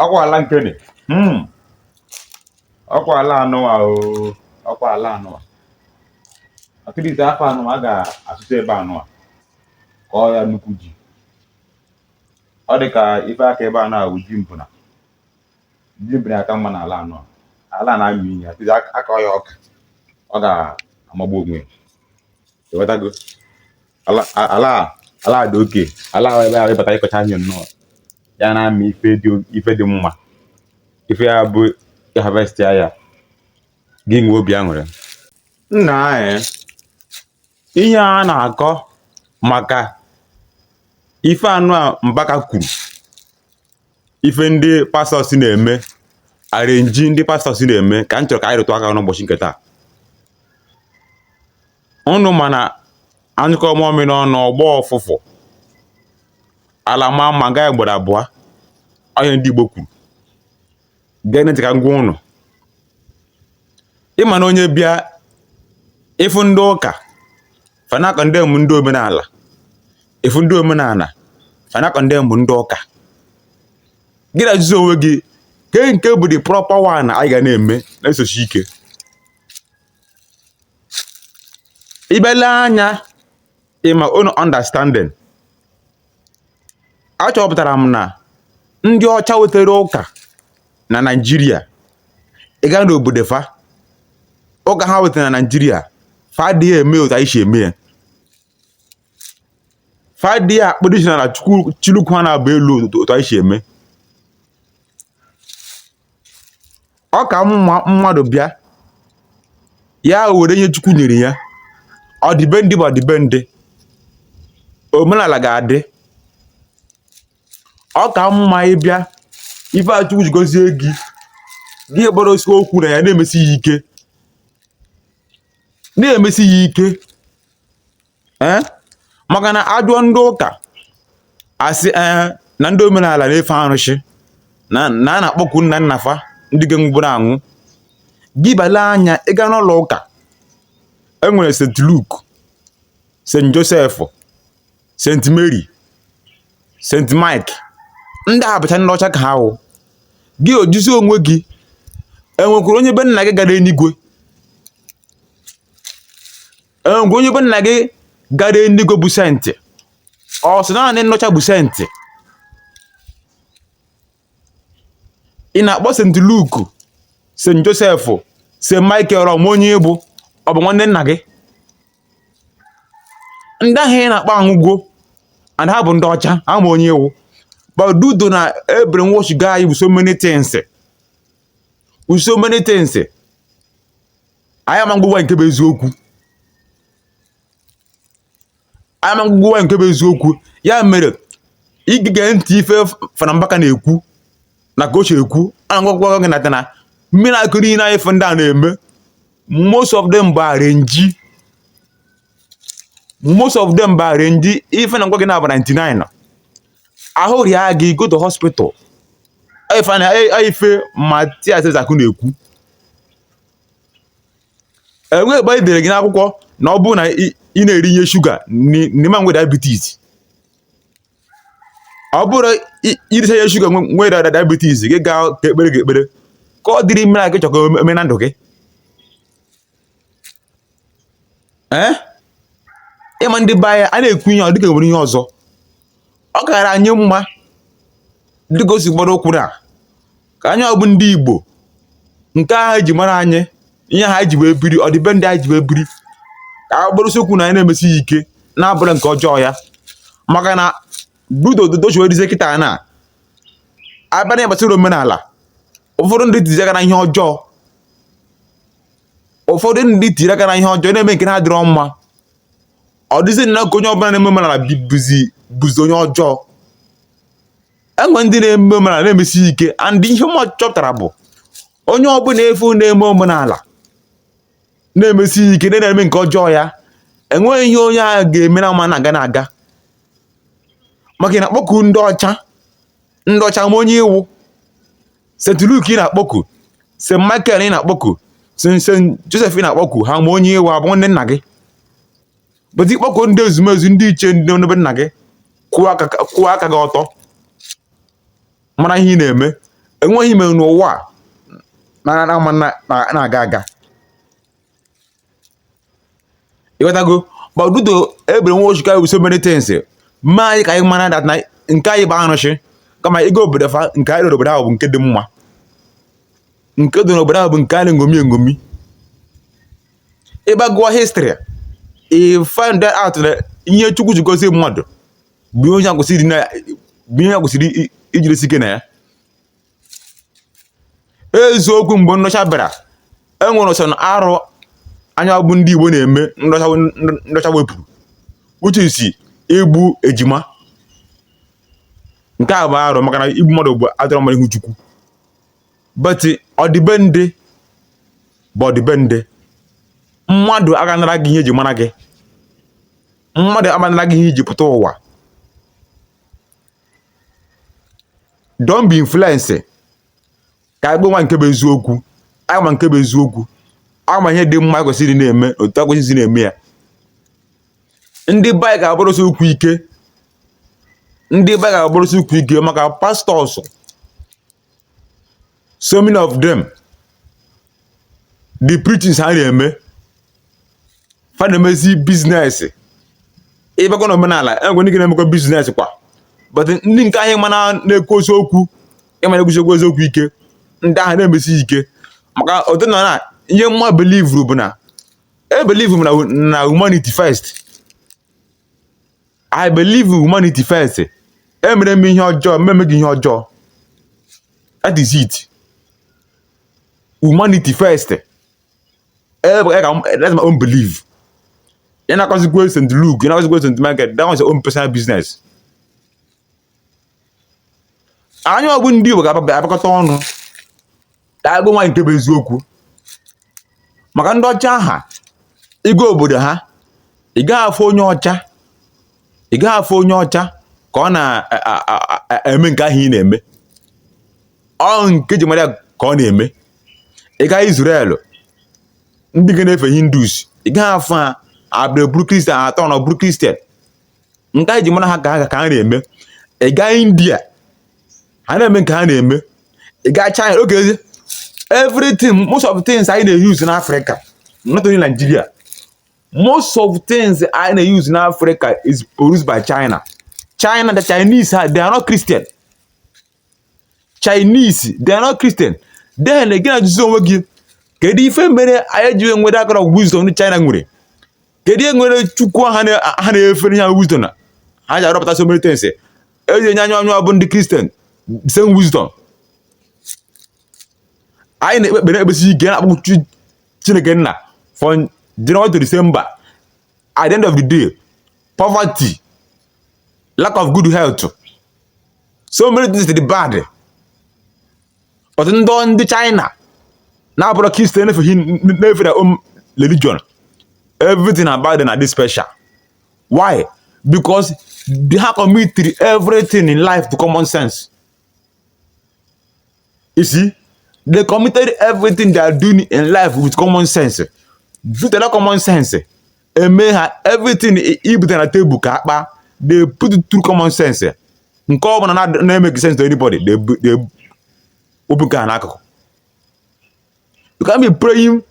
ọkwa ala nkene hmm. ọkwa ala anụwa ọkwa ala anụwa akịrịte afọ anụwa a ga-asụta ebe anụwa kọọ ya nnukwu ji ọ dị ka ife aka ebe a na-awụ ji mbụna ji mbụna aka mma n'ala anụwa ala na-amị ihe atụzi akọọ ya ọka ọ ga-amagbu onwe ya ewetago ala ala ala dị oke ala ebe a ị bata ị kọchaa ihe nnọọ ya na-amị ife dị mma ife ya bụ ị harvestịa ya gị nwee obi aṅụrị nna anyị ihe a na-akọ maka ife anụwa Mbaka kwuru ife ndị pastors na-eme arrangee ndị pastors na-eme ka m chọrọ ka anyị rụtụ aka n'ụbọchị nke taa ụnụ ma na a nyụkọọ mamịrị ọnụ ọ gbọọ ụfụfụ ala ma mma nga ya gbara abụọ ọ ihe ndị Igbo kwuru gee ntị ka m gwa ụnụ ị ma na onye bịa ị fụ ndị ụka fa na-econdemn ndị omenala ị fụ ndị omenala fa na-econdemn ndị ụka gị na-ajụzi onwe gị kee nke bụ the proper one anyị ga na-eme na-esosi ike ị bịa lee anya ịma unu understanding achọpụtara m na ndị ọcha wetere ụka na naijiria ị gaa n'obodo fa ụka ha wetara na naijiria fa adịghị eme otu anyị si eme ya fa adịghị akpọdo isi n'ala chịlị ụkwụ ha naabọ elu otu anyị si eme ọ ka mma mmadụ bịa ya were ihe Chukwu nyere ya ọdịbendị bụ ọdịbendị omenala ga-adị ọ ka mma ị bịa ife a Chukwu ji gozie gị gị gbadosi ụkwụ na ya na-emesi ya ike na-emesi ya ike ee maka na a jụọ ndị ụka asị ee na ndị omenala na-efe arụsị na a na-akpọku nna nna fa ndị nke nwụburu anwụ gị bịa lee anya ị gaa n'ụlọ ụka e nwere St Luke St Joseph St Mary St Mike ndị a bụcha ndị ọcha ka ha wụ gị ajụzie onwe gị e nwekwara onye be nna gị gara enigwe enweghị onye be nna gị gara eluigwe bụ senti ọ sọ naanị ndị ọcha bụ senti ị na-akpọ senti Luke senti Joseph senti Michael ọ ma onye ị bụ ọ bụ nwanne nna gị ndị ahụ ị na-akpọ anwụgwo and ha bụ ndị ọcha ama onye ị wụ but due to na e brainwashigo anyị with so many things so many things anyị amaghịkwa nke bụ eziokwu anyị amaghịkwa nke bụ eziokwu ya mere ị ga-ege ntị ife Fada Mbaka na-ekwu na ka o si ekwu a na-agwa gị that na miracle niile na ife ndị a na-eme most of them bụ arrange most of them bụ arrange ife ọ na-agwa gị na-abụ 99 ahụ rịa gị go to hospital ife Mathias Ezeaku na-ekwu enweghị ebe anyị dere gị n'akwụkwọ na ọ bụrụ na ị na-eri ihe shuga na ị ma nwe diabetes ọ bụrụ i risa ihe shuga nwere diabetes gị gaa ka e kpeere gị ekpere kedụ ụdị miracle ị chọ ka o mee na ndụ gị ee ị ma ndị be anyị a na-ekwu ihe ọ dịka e nwere ihe ọzọ ọ kara anyị mma dịka o si gbado ụkwụ na nke anyị ọ bụ ndị Igbo nke ahụ e ji mara anyị ihe ha ji wee biri ọdịbendị anyị ji wee biri ka a gbadosi ụkwụ na ya na-emesi ya ike na-abụrọ nke ọjọọ ya maka na obodo otu o si wee dịzie kịta na a bịa n'ihe gbasara omenala ụfọdụ ndị tiri aka na ihe ọjọọ ụfọdụ ndị tiri aka na ihe ọjọọ na-eme nke na-adịrọ mma ọ dịzi na ka onye ọbụla na-eme omenala bụzi bụzi onye ọjọọ e nwe ndị na-eme omenala na-emesi ike and ihe m chọpụtara bụ onye ọbụla ị fụ na-eme omenala na-emesi ike na na-eme nke ọjọọ ya enweghị ihe onye ahụ ga-eme na ama na-aga na-aga maka na ịkpọku ndị ọcha ndị ọcha ama onye ị wụ St. Luke ị na-akpọku St. Michael ị na-akpọku St. Joseph ị na-akpọku ha ma onye ị wụ ha bụ ndị nna gị but ị kpọkuo ndị ezumezu ndị ichie ndị nọ na be nna gị kwụwa aka gị ọtọ mara ihe ị na-eme enweghị ihe ị mee n'ụwa na ama na-aga aga ị ghọtago but due to e brainwashigo anyị with so many things mee anyị ka anyị mara that na nke anyị bụ arụsị kama ị gaa obodo fa nke anyị n'obodo ahụ bụ nke dị mma nke dị n'obodo ahụ bụ nke anyị na-eṅomi eṅomi ị ba gụọ history ị find out na ihe Chukwu ji gozie mmadụ bụ ihe e kwesịrị ijirisi ike na ya eziokwu mgbe ndị ọcha bịara e nwere nsọ na arụ anyị bụ ndị Igbo na-eme ndị ọcha wepụrụ which is igbu ejima nke a bụ arụ maka na igbu mmadụ bụ adịrọ mma n'ihu Chukwu but ọdịbendị bụ ọdịbendị mmadụ aga anara gị ihe eji mara gị mmadụ ama anara gị ihe iji pụta ụwa don't be influenced ka anyị gwa onwe nke bụ eziokwu anyị ma nke bụ eziokwu anyị ma ihe dị mma kwesịrị na-eme otu e kwesịzi na-eme ya ndị be anyị ga-akwụrụsi ụkwụ ike ndị be anyị ga-akwụrụsi ụkwụ ike maka pastors so many of them the preachings ha na-eme fa na-emezi business ị bakwa na omenala enwere ndị ka na-emekwa business kwa but ndị nke anyị ma na na-ekwu eziokwu a ma na-ekwusikwa eziokwu ike ndị ahụ na-emesi ike maka ọdịnana ihe mụwa belivuru bụ na ebelivu m na na humanity first I believe humanity first. I merọ m ihe ọjọọ, m ma eme gị ihe ọjọọ. That is it. Humanity first. E, e ka m- That's my own belief. Ị na-akọzikwa St. Luke, ị na-akọzikwa St. Michael, that one is your own personal business. anyị bụ ndị Igbo ga-abịakọta ọnụ ka a gwa onwe anyị nke bụ eziokwu maka ndị ọcha ahụ ị gaa obodo ha ị gaghị afụ onye ọcha ị gaghị afụ onye ọcha ka ọ na-eme nke ahụ ị na-eme ọ nke e ji mara ka ọ na-eme ị gaa Israel ndị ka na-efe Hindus ị gaghị afụ ha abịa bụrụ Christian turn bụrụ Christian nke e ji mara ha ka ha na-eme ị gaa india ha na-eme nke ha na-eme ị gaa china okay see everything most of things anyị na-eyuzu n'afrịka not only nigeria most of things anyị na-eyuzu n'afrịka is produced by china china the chinese they are not christian chinese they are not christian then again ajụzi onwe gị kedu ife mere anyị ji nwere akara wisdom ndị china nwere kedu ihe mere Chukwu ha na- ha na-efe ihe wisdom na ha ji arọpụta so many things eji enye anyịnwa bụ ndị christian same wisdom anyị na-ekpe ekpere ekpesi ike na-akpọ chi- chineke nna from january to december at the end of the day poverty lack of good health so many things dị bad but ndị ndị China na-abụrọ Christian efughị n'efu their own religion everything about them na-adị special why because they have committed everything in life to common sense You see, they committed everything they are doing in life with common sense. Futela common sense. Eme ha everything e bute na table ka a kpaa. They put it through common sense. Nke ọ bụla na-emeghị sense to anybody. They, they, wepụga ya n'akụkụ. you can be praying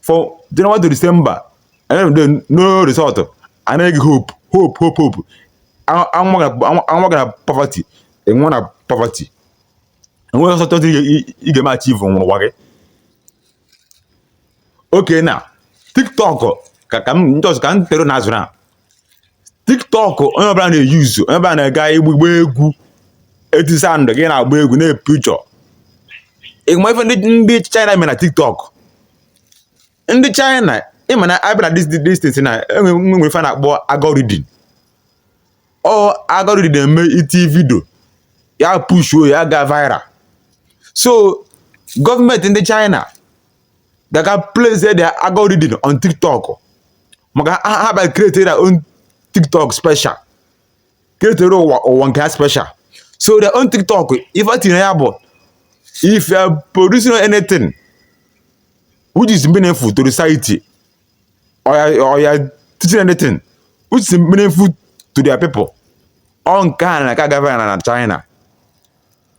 for January to December and then no result anaghị hope hope hope hope a mụa gị na poverty ị nwụa na poverty enweghị ọsọ chọta ị ga-eme achieve n'ụwa gị okay na tiktok ka ka m just ka m tell unu azụ na tiktok onye ọbụla na-euse onye ọbụla na-aga ịgba egwu e tie sound gị na-agba egwu na-epijọ ị ma ife ndị ndị china mere na tiktok ndị china ị ma na a bịa na this thing na enwe nwere ife a na-akpọ algorithm ọ algorithm na-eme ị tie vidio ya pushuo ya gaa viral so gọọmenti ndị china they can place their algorithm on tiktok maka ha bịa create their own tiktok special create their own own nke ha special so their own tiktok ife dị ya bụ if you are producing anything which is meaningful to the society or you or you are teaching anything which is meaningful to their people ọ nke a na-aga viral na China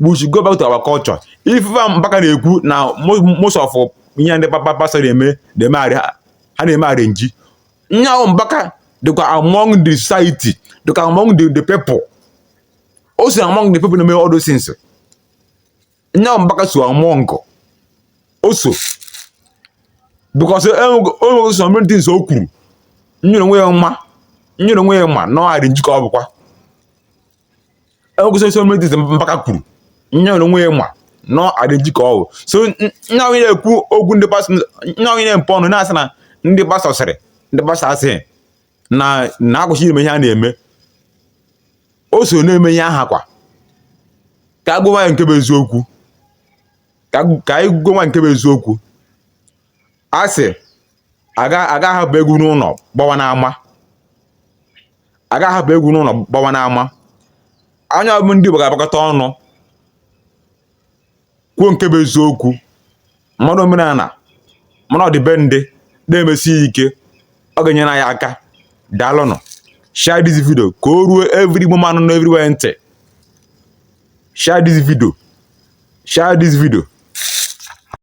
we should go back to our culture ife Fada Mbaka na-ekwu na most of ihe ndị papa pastọ na-eme ha na-eme arrange nya bụ Mbaka dịkwa among the society dịkwa among the, the people o so among the people na-eme all those things nya bụ Mbaka so among o so because e nwekwa so many things o kwuru nya onwe ya ma nya onwe ya ma na ọ arrange ka ọ bụkwa e nwekwa so many things Mbaka kwuru nya onwe ya ma na ọ arrange ka ọ bụ so nya onye na-ekwu okwu ndị pastọ nya onye na-emepe ọnụ na-asị na ndị pastọ sịrị ndị pastọ asịghị na na akwụsị ime ihe a na-eme o so na-eme ihe ahụ kwa ka a gwa ya nke bụ eziokwu ka ka anyị gwa nke bụ eziokwu a sị a ga a ga-ahapụ egwu n'ụlọ gbawa n'ama a ga-ahapụ egwu n'ụlọ gbawa n'ama ọ nya bụ ndị Igbo ga-agbakọta ọnụ kwuo nke bụ eziokwu mmadụ omenala mmadụ ọdịbendị na-emesi ya ike ọ ga-enyere anyị aka daalụnụ share this video ka o ruo every woman nọ everywhere ntị share this video share this video